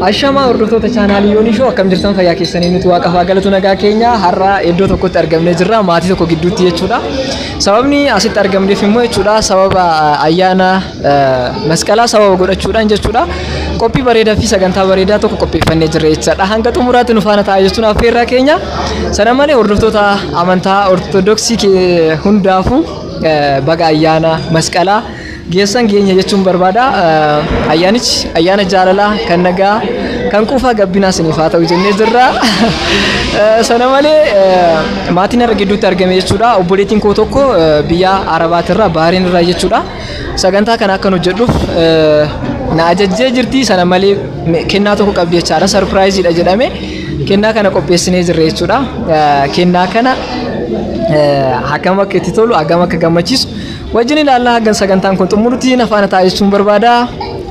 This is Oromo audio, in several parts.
Ashamaa hordoftoota chaanaalii Yoonii Shoo akkam jirtan fayyaa keessanii nuti waaqaaf haa galatu nagaa keenya har'a iddoo tokkotti argamnee jirra maatii tokko gidduutti jechuudha. Sababni asitti argamneef immoo jechuudha sababa ayyaana masqalaa sababa godhachuudhaan jechuudha. Qophii bareedaa fi sagantaa bareedaa tokko qopheeffannee jirra jechuudha. Hanga xumuraatti nu faana taa'aa jechuun affeerraa keenya. Sana malee hordoftoota amantaa ortodoksii hundaafuu baga ayyaana masqalaa geessan geenya jechuun barbaada. Ayyaanichi ayyaana jaalalaa kan nagaa kan quufaa gabbinaa isiniif haa ta'u jennee jirra. Sana malee maatiin har'a gidduutti argame jechuudha. Obboleettiin koo tokko biyya Arabaatirraa Baariin irraa jechuudha. Sagantaa kana akkan hojjedhuuf na ajajjee jirti. Sana malee kennaa tokko qabdi jechaadha. Sarpiraayiziidha jedhame. Kennaa kana qopheessinee jirra jechuudha. Eh, Kennaa kana eh, hagam akka itti tolu, hagam akka gammachiisu wajjin ilaallaa hagam sagantaan kun xumurutti na faana taa'aa jechuun barbaada.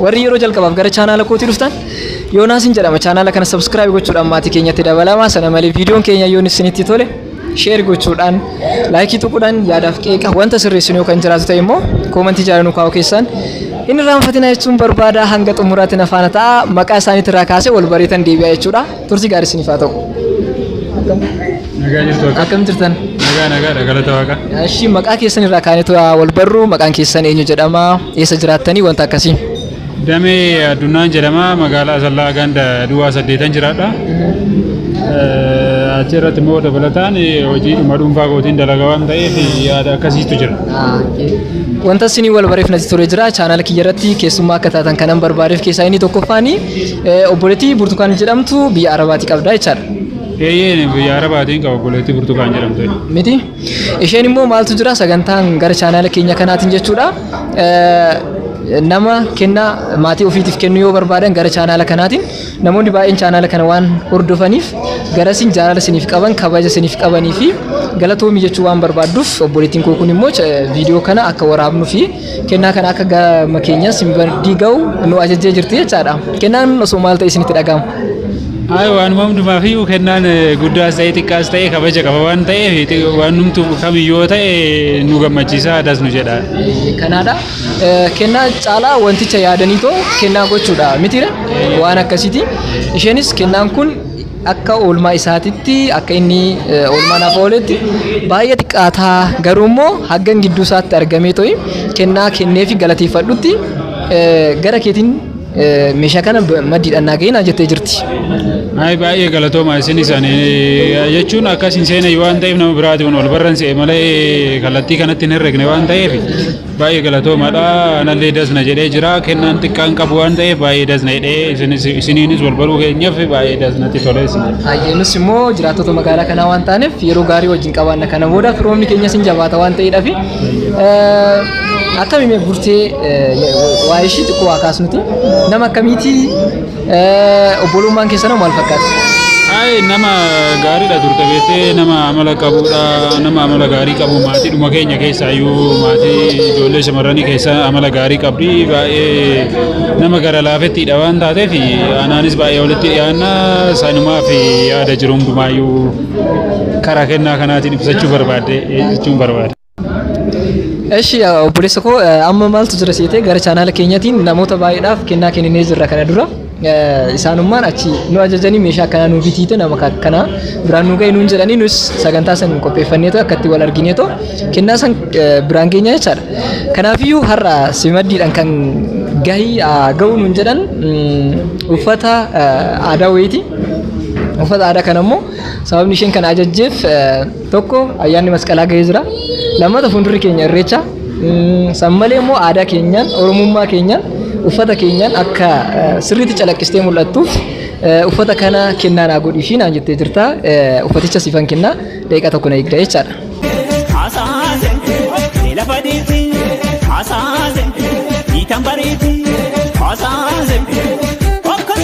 Warri yeroo jalqabaaf gara chaanaala kootii dhuftan Yoonaasin jedhama. Chaanaala kana subscribe gochuudhaan maatii keenyatti dabalamaa. Sana malee viidiyoon keenya yoon isinitti tole Share gochuudhaan, like tuquudhaan yaadaaf qeeqa wanta sirreessinu yoo kan jiraatu ta'e immoo koomantii jala nu kaa'uu keessan hin irraanfatina jechuun barbaada hanga xumuraatti na faana ta'a maqaa isaaniitti irraa kaasee wal bareetan deebi'a jechuudha. Turtii gaarii isiniif haa ta'u. Nagaa jirtu akka. Akkam jirtan? Nagaa nagaa dha galata waaqa. Ashii maqaa keessan irraa kaanitu wal barru maqaan keessan eenyu jedhama eessa jiraattanii wanta akkasii. Damee Addunnaan jedhama. Magaalaa Asallaa ganda Duwwaa saddeetan jiraadha. Achi irratti immoo dabalataan hojiidhuma dhuunfaa kootiin dalagaa waan ta'eef yaada akkasiitu jira. Wanta isinii wal bareef natti tolee jira. Chaanaala kiyya irratti keessummaa akka taatan kanan barbaadeef keessaa inni tokkoffaani obboleettii Burtukaan jedhamtu biyya Arabaatii qabda jechaadha. Eeyyeen biyya Arabaatiin qaba obboleettii Burtukaan jedhamtu. Miti? Isheen immoo maaltu jira sagantaan gara chaanaala keenya kanaatiin jechuudha. Eh, Nama kennaa maatii ofiitiif kennuu yoo barbaadan gara chaanaala kanaatiin namoonni baay'een chaanaala kana waan hordofaniif garasiin jaalala isiniif qaban kabaja isiniif qabanii fi galatoomii jechuu waan barbaadduuf obboleettiin koo kun immoo eh, viidiyoo kana akka waraabnuu fi Kennaa kana akka gama keenyaa sin bardii ga'u nu ajajjee jirti jechaadha. Kennaan osoo maal ta'e isinitti dhaga'ama? Ay waanuma hundumaaf iyyuu kennaan eh, guddaas ta'e xiqqaas ta'e kabaja qaba waan ta'eef xi- waan numtu kamiyyuu yoo ta'e nu gammachiisa adas nu jedha. Kanaadha. Eh, Kennaa caalaa wanticha yaadanii too kennaa gochuudha mitiire waan akkasiiti. Isheenis kennaan kun akka oolmaa isaatitti akka inni oolmaa naaf ooletti baay'ee xiqqaataa garuu immoo haggan gidduu isaatti argamee ta'e kennaa kennee fi galateeffadhutti gara keetiin meeshaa kana maddiidhaan naa ga'inaa jettee jirti. Naayii baay'ee galatooma isin isaan jechuun akkas hin seene waan ta'eef nama biraatiin ol barran se'e malee kallattii kanatti hin herregne waan ta'eef Baay'ee galatoomaadha. Anallee das na jedhee jira. Kennaan xiqqaan qabu waan ta'eef baay'ee das na jedhee isinis isiniinis wal baruu keenyaaf baay'ee das natti tolee isin jedha. Baay'ee nus immoo jiraattota magaalaa kanaa waan taaneef yeroo gaarii wajjin qabaanna kana booda firoomni keenyas hin jabaata waan ta'eedhaaf akkamiin burtee waa'ee ishii xiqqoo waa kaasnuti nama akkamiitii Obbolummaan keessanoo maal fakkaata? Ayi nama gaariidha turte beektee nama amala qabuudha nama amala gaarii qabu maatii dhuma keenya keessaa iyyuu maatii ijoollee shamarranii keessa amala gaarii qabdi baay'ee nama gara laafettiidha waan taateef anaanis baay'ee walitti dhiyaanna sanumaaf yaada jiru hundumaayyuu karaa kennaa kanaatiin ibsachuu barbaadde jechuun barbaada. Eshi obboleessa koo amma maaltu jira seetee gara chaanaala keenyatiin namoota baay'eedhaaf kennaa kenninee jirra kana dura. Isaanummaan achi nu ajajanii meeshaa akkanaa nu bitiite nama akkanaa biraan nu ga'e nuun jedhanii nus sagantaa san qopheeffanneetoo akkatti wal argineetoo kennaa san biraan geenya jechaadha. Kanaafiyyuu har'a simaddiidhaan kan gahii ga'uu nuun jedhan uffata aadaa wayiiti. Uffata aadaa kana immoo sababni isheen kana ajajjeef Tokko ayyaanni masqalaa gahee jira. Lammata fuuldurri keenya irreecha. San malee immoo aadaa keenyaan, oromummaa keenyaan, uffata keenyaan akka sirriitti calaqqistee mul'attuuf uffata kana kennaa naa godhii fi naan jettee jirta. Uffaticha siifan kennaa daqiiqaa tokko na eegda jechaadha. Hasaase lafa deeti hasaase dhiitan bareeti hasaase akkas.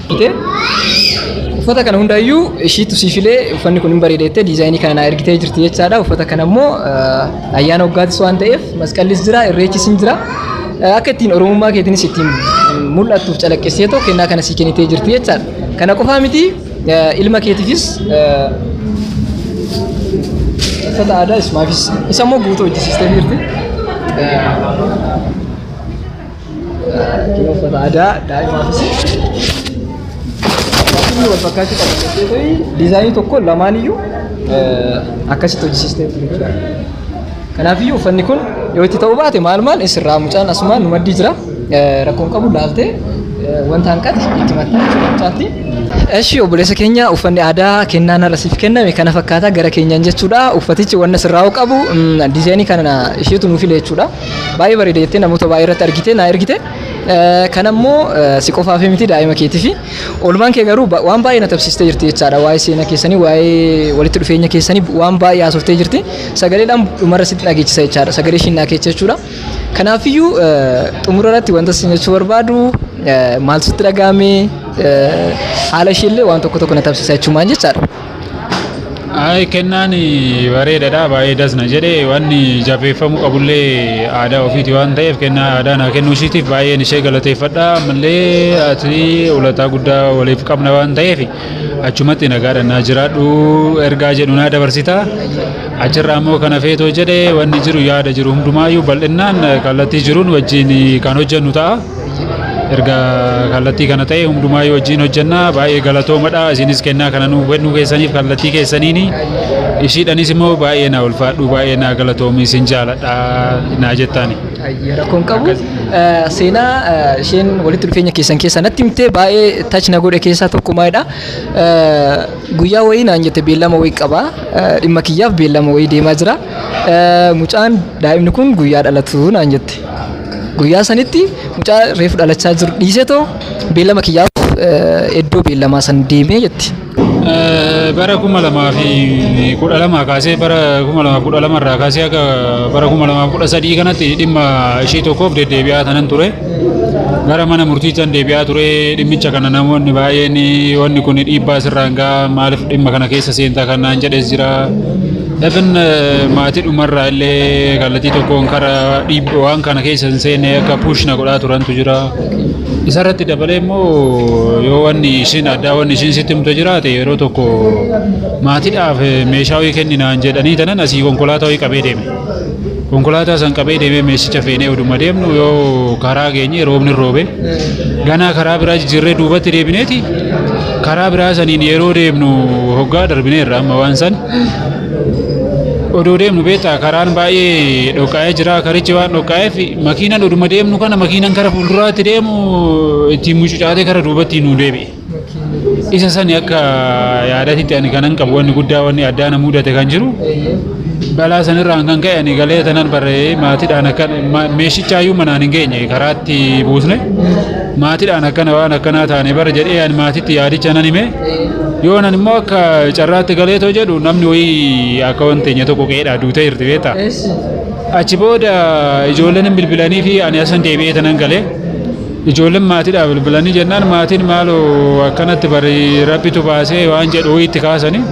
Jettee uffata kana hundaayyuu ishiitu sii filee uffanni kun hin bareeda jettee diizaayinii kana naa ergitee jirti jechaadha. Uffata kana immoo eh, ayyaana waggaatis waan ta'eef masqallis jira irreechis hin jira. Eh, Akka ittiin oromummaa keetiinis ittiin mm, mul'attuuf calaqqistee too kennaa kana sii kennitee jirti jechaadha. Kana qofaa miti eh, ilma keetiifis eh, uffata aadaa ismaafis isa immoo guutuu hojjisiistee jirti. Eh, Kun uffata aadaa daa'imaafis akkasuma wal fakkaachuu qaba jettee ta'ii diizaayinii tokko lamaaniyyuu eh, akkasitti hojjisiistee jechuudha. Kanaafiyyuu uffanni kun yoo itti ta'uu baate maal maal isirraa mucaan asumaan nu maddii jira Eh, rakkoon qabu laaltee eh, wanta hanqate itti maxxanee jechuudha mucaatti. Eshi obboleessa keenya uffanni aadaa kennaan irra siif kenname kana fakkaataa gara keenyaan jechuudha uffatichi wanna sirraa'uu qabu mm, diizaayinii kana isheetu nuuf file jechuudha. Baay'ee bareeda jettee namoota baay'ee irratti argite naa ergite. Kan ammoo si qofaaf miti daa'ima keetiifi. Oolmaan kee garuu waan baay'ee na taphsiistee jirti jechaadha. Waa'ee seenaa keessanii, waa'ee walitti dhufeenya keessanii waan baay'ee haasoftee jirti. Sagaleedhaan dhumarra sitti dhageechisa jechaadha. Sagalee ishiin naa keecha jechuudha. Kanaafiyyuu xumura irratti wanta isin jechuu barbaadu maal sitti dhaga'ame haala ishiillee waan tokko tokko na taphsiisa jechuumaan jechaadha. Ayi kennaan bareedadha baay'ee das na jedhe wanni jabeeffamuu qabullee aadaa ofiiti waan ta'eef kennaa aadaa naa kennuu ishiitiif baay'een ishee galateeffadha ammallee ati ulataa guddaa waliif qabna waan ta'eef achumatti nagaadha naa jiraadhu ergaa jedhu naa dabarsita achirraa immoo kana feetoo jedhe wanni jiru yaada jiru hundumaayyuu bal'innaan kallattii jiruun wajjin kan hojjennu ta'a. erga kallattii kana ta'e hundumaayyu wajjin hojjenna baay'ee galatoomadha isinis kennaa kana nuu kennuu keessaniif kallattii keessaniini ishiidhanis immoo baay'ee naa ulfaadhu baay'ee naa galatoomi isin jaaladha naa jettaani. Rakkoon qabu seenaa isheen walitti dhufeenya keessan keessaa natti himtee baay'ee tach na godhe keessaa tokko maalidha guyyaa wayii naan jette beellama wayii qaba dhimma kiyyaaf beellama wayii deemaa jira. Mucaan daa'imni kun guyyaa dhalatu naan jette. Guyyaa sanitti mucaa reefu dhalachaa jiru dhiisee too beellama kiyyaaf iddoo beellamaa san deemee jetti. Bara kuma lamaa fi kudha lamaa kaasee bara kuma lamaa kudha lama irraa kaasee akka bara kuma lamaa kudha sadii kanatti dhimma ishee tokkoof deddeebi'aa tanan ture. Gara mana murtiitan deebi'aa ture dhimmicha kana namoonni baay'een wanni kun dhiibbaa sirraan ga'a maaliif dhimma kana keessa seentaa kan naan jedhes jira. Dafin maatii dhumarraa illee kallattii tokkoon kara dhiibbawaan kana keessa hin seenne akka push na godhaa turantu jira. Isarratti dabalee immoo yoo wanni ishiin addaa wanni ishiin sitti himte jiraate yeroo tokko maatiidhaaf meeshaa wayii kenninaan jedhanii tanan asii konkolaataa wayii qabee deeme. Konkolaataa san qabee deemee meeshicha feenee oduma deemnu yoo karaa geenye roobni roobe ganaa karaa biraa jijjiirree duubatti deebineeti karaa biraa saniin yeroo deemnu hoggaa darbineerra amma waan san odoo deemnu beektaa karaan baay'ee dhoqqaa'ee jira karichi waan dhoqqaa'eef makiinan oduma deemnu kana makiinan kara fuulduraatti deemu ittiin mucucaatee kara duubatti nu deebi'e. Isa sani akka yaadatitti ani kanan qabu wanni guddaa wanni addaa na mudate kan jiru balaa sanirraan kan ka'e ani galee tanan barree maatiidhaan akka meeshichaayyuu manaan hin geenye karaatti buusne maatiidhaan akkana waan akkanaa taane bara jedhee ani maatiitti yaadicha nan hime. Yoon ani immoo akka carraatti galeetoo jedhu namni wayii akka waan teenya tokko qe'eedhaa duutee jirti beektaa. Achi booda ijoolleen bilbilanii fi ani asan deebi'ee tanan galee ijoolleen maatiidhaa bilbilanii jennaan maatiin maaloo akkanatti bari rabbitu baasee waan jedhu wayiitti kaasanii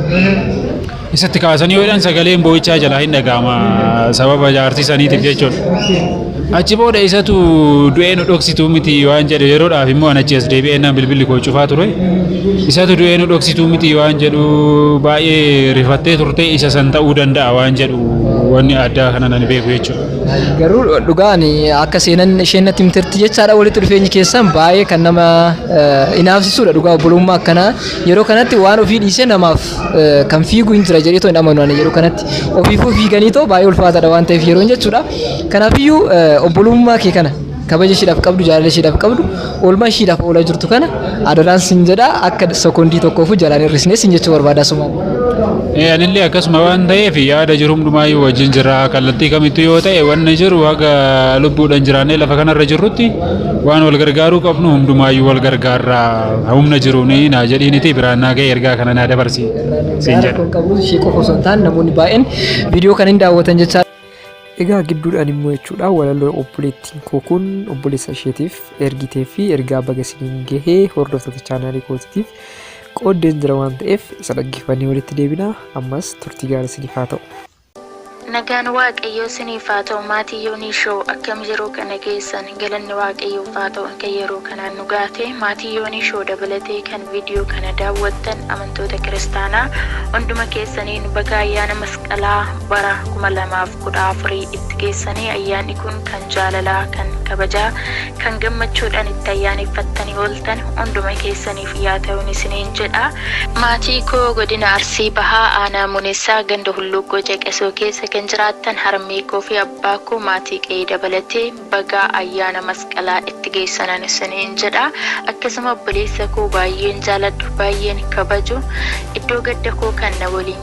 Isatti kaasanii yoo jedhan sagaleen boo'ichaa jalaa hin dhaga'ama sababa jaartii saniitiif jechuudha. Achi booda isatu du'ee nu dhoksituu miti waan jedhu yeroodhaaf immoo an achi as deebi'ee naan bilbilli koo cufaa ture. Isatu du'ee nu dhoksituu miti waan jedhu baay'ee rifattee turte isa san ta'uu danda'a waan jedhu wanni addaa kana nan beeku jechuudha. Garuu dhugaan akka seenan isheen natti himtetti jechaadha walitti dhufeenyi keessan baay'ee kan nama eh, inaafsisuudha dhugaa obbolummaa akkanaa yeroo kanatti waan ofii dhiisee namaaf eh, kan fiigu hin jira jedhee too hin amanu ani yeroo kanatti ofiifuu fiiganii too baay'ee ulfaataadha waan ta'eef yeroon jechuudha kanaafiyyuu eh, obbolummaa kee kana kabaja ishiidhaaf qabdu jaalala ishiidhaaf qabdu oolmaa ishiidhaaf oolaa jirtu kana adaraan sin jedha akka sekoondii tokkoofu jalaan hir'isnee sin jechuu barbaada sumaan. Eh, anillee akkasuma waan ta'eef yaada jiru hundumaayyuu wajjin jira kallattii kamittuu yoo ta'e wanni jiru haga lubbuudhaan jiraannee lafa kanarra jirrutti Waan wal gargaaruu qabnu hundumaayyuu wal gargaarraa humna jiruun naa jedhiiniti biraan naa ga'e ergaa kana naa dabarsi siin jedha. Rakkoon qabu ishee qofa osoo hin taane namoonni baay'een viidiyoo kana hin daawwatan jechaa Egaa gidduudhaan immoo jechuudha walaloo obboleettiin koo kun obboleessa isheetiif ergitee fi ergaa baga isiniin gahee hordoftoota chaanaalii kootiitiif qooddeen jira waan ta'eef isa dhaggeeffannee walitti deebina ammas turtii gaarii isiniif haa ta'u. Nagaan waaqayyoo siniif haa ta'u maatii Yonii show akkam yeroo kana geessan galanni waaqayyoof haa ta'u akka yeroo kanaan nu gaate maatii Yonii show dabalatee kan video kana daawwattan amantoota kiristaanaa hunduma keessaniin baga ayyaana masqalaa bara 2014 itti geessanii ayyaanni kun kan jaalalaa kan kabajaa kan gammachuudhaan itti ayyaaneffattanii ooltan hunduma keessaniif yaa ta'un isiniin jedha. Maatii koo Godina Arsii Bahaa Aanaa Munessaa Ganda Hulluuqqoo Caqasoo keessa kan jiraattan harmee koo fi abbaa koo maatii qe'ee dabalatee baga ayyaana masqalaa itti geessanan isiniin jedha. Akkasuma obboleessa koo baayyeen jaaladhu, baayyeen kabaju iddoo gadda koo kan na waliin.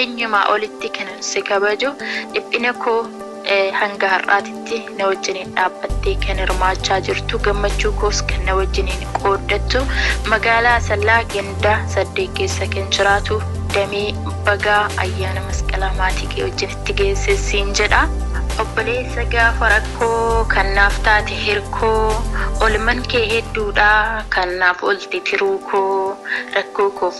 Eenyumaa olitti kanan si kabaju, dhiphina koo hanga har'aatitti na wajjiniin dhaabbattee kan hirmaachaa jirtu, gammachuu koos kan na wajjiniin qooddattu, magaalaa Asallaa ganda saddeet keessa kan jiraatu Damee bagaa ayyaana masqalaa maatii kee wajjin itti geesse siin jedha. Obboleessa gaafa rakkoo kan naaf taate hirkoo, olman kee hedduudha kan naaf olte tiruu koo, rakkoo koof.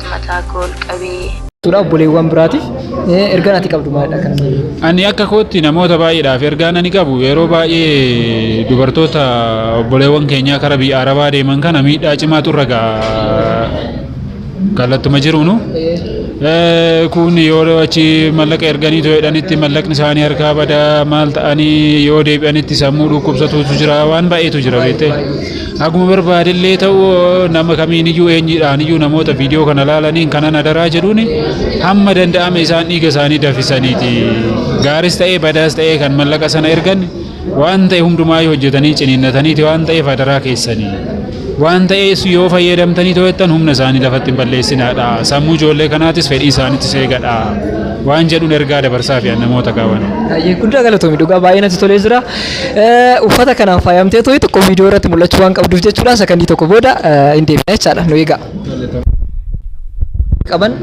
mataa koo ol qabee. Tuudha obboleewwan biraatiif ergaan ati qabdu maalidha kan Ani akka kootti namoota baay'eedhaaf ergaan ani qabu yeroo baay'ee dubartoota obboleewwan keenyaa kara biyya Arabaa deeman kana miidhaa cimaatu irra ga'a kallattuma jiruunu. Kun yoo achi mallaqa erganii too jedhanitti mallaqni isaanii harkaa badaa maal ta'anii yoo deebi'anitti sammuu dhukkubsatuutu jira waan baay'eetu jira beektee. Akkuma barbaadellee ta'u nama kamiiniyyuu eenyudhaaniyyuu namoota viidiyoo kana laalaniin kanan adaraa jedhuun hamma danda'ame isaan dhiiga isaanii dafisaniiti. Gaaris ta'ee badaas ta'ee kan mallaqa sana ergan waan ta'e hundumaa yoo hojjetanii ciniinnataniiti waan ta'eef adaraa keessanii. Waan ta'ees yoo fayyadamtanii to'attan humna isaanii lafatti hin balleessinaadha. Sammuu ijoollee kanaatis fedhii isaaniitis eegadha. Waan jedhuun ergaa dabarsaa fi namoota kaawwan. Guddaa galatoomi dhugaa baay'ee natti tolee jira. Uffata kanaan faayamtee tooyi tokko viidiyoo irratti mul'achuu waan qabduuf jechuudha. Sakandii tokko booda hin deebina jechaadha. Nu eegaa. Qaban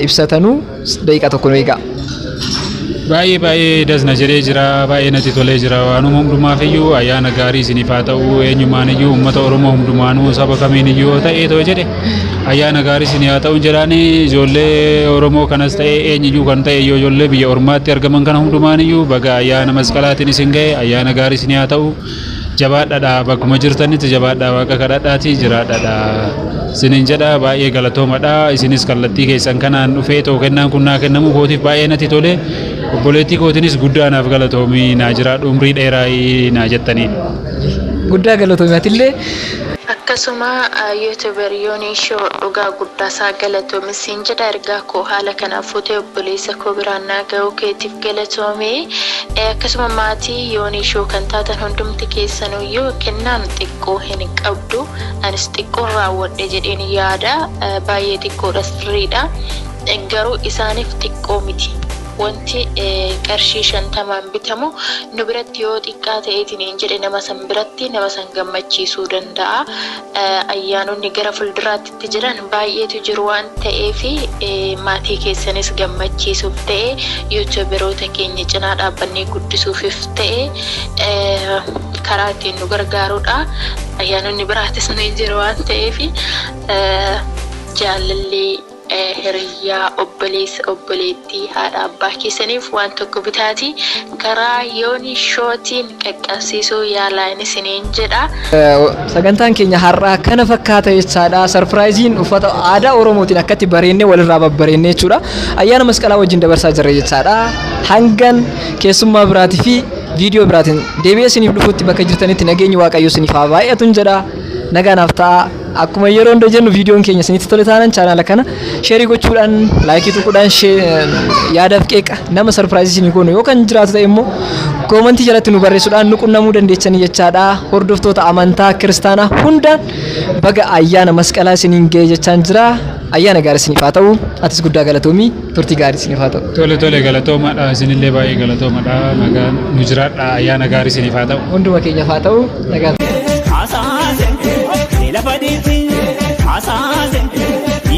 ibsatanuu daqiiqaa tokko nu eegaa. Baay'ee baay'ee dasna jedhee jira baay'ee natti tolee jira waanuma hundumaaf iyyuu ayyaana gaarii isiniif haa ta'u eenyumaan iyyuu uummata Oromoo hundumaanuu saba kamiin iyyuu yoo ta'e too jedhe Ayyaana gaarii isin haa ta'u jedhaani ijoollee Oromoo kanas ta'e eenyuyyuu kan ta'e yoo ijoollee biyya ormaatti argaman kana hundumaaniyyuu baga ayyaana masqalaatiin isin ga'e ayyaana gaarii isin haa ta'u jabaadhadha bakkuma jirtanitti jabaadhaa waaqa kadhadhaati jiraadhadha isinin jedha baay'ee galatoomadha isinis kallattii keessan kanaan dhufee too kennaan kun naa kennamuu kootiif baay'ee natti tole obboleettii kootinis guddaa naaf galatoomii naa jiraadhu umrii dheeraa naa jettanii. Guddaa galatoomi atillee. Akkasuma youtuber Yonii show dhugaa guddaasaa galatoomi siin jedha ergaa koo haala kanaan fuutee obboleessa koo biraan naa gahuu keetiif galatoomi akkasuma maatii Yonii show kan taatan hundumti keessanuyyuu kennaan xiqqoo hin qabdu anis xiqqoon raawwadhe jedheen yaada baay'ee xiqqoodha sirriidha garuu isaaniif xiqqoo miti. Wanti qarshii shantamaan bitamu nu biratti yoo xiqqaa ta'e isiniin jedhe nama san biratti nama san gammachiisuu danda'a. Ayyaanonni gara fulduraatti itti jiran baay'eetu jiru waan ta'eef maatii keessanis gammachiisuuf ta'e youtuberoota keenya cinaa dhaabbannee guddisuufif ta'e karaa ittiin nu gargaarudha. Ayyaanonni biraatis ni jiru waan ta'eef jaalalli hiriyyaa, obboleessa, obboleettii, haadha abbaa keessaniif waan tokko bitaatii karaa Yoni Show tiin qaqqabsiisuu yaalaa isiniin jedha. Sagantaan keenya har'aa kana fakkaata jechaadha. Sarpiraayiziin uffata aadaa Oromootiin akkatti bareennee walirraa babbareennee jechuudha. Ayyaana masqalaa wajjin dabarsaa jirra jechaadha. Hangan keessummaa biraatii fi viidiyoo biraatiin deebi'ee isiniif dhufutti bakka jirtanitti nageenyi Waaqayyoo isiniif haa baay'atun jedha. Nagaa naaf ta'a. Akkuma yeroo hunda jennu viidiyoon keenya isinitti tole taanaan chaanaala kana sheerii gochuudhaan laayikii tuquudhaan yaadaaf qeeqa nama sarpiraayizii isinii goonu yoo kan jiraatu ta'e immoo koomantii jalatti nu barreessuudhaan nu qunnamuu dandeessanii jechaadha. Hordoftoota amantaa kiristaanaa hundaan baga ayyaana masqalaa isiniin ga'e jechaan jira. Ayyaana gaarii isiniif haa ta'u. Atis guddaa galatoomii. Turtii gaarii isiniif haa ta'u. Tole tole galatoomadha isinillee baay'ee galatoomadha nagaa nu jiraadha ayyaana gaarii isiniif haa ta'u. Hunduma keenyaaf haa ta'u nagaa. Hasaase, lafa dhiitii, hasaase,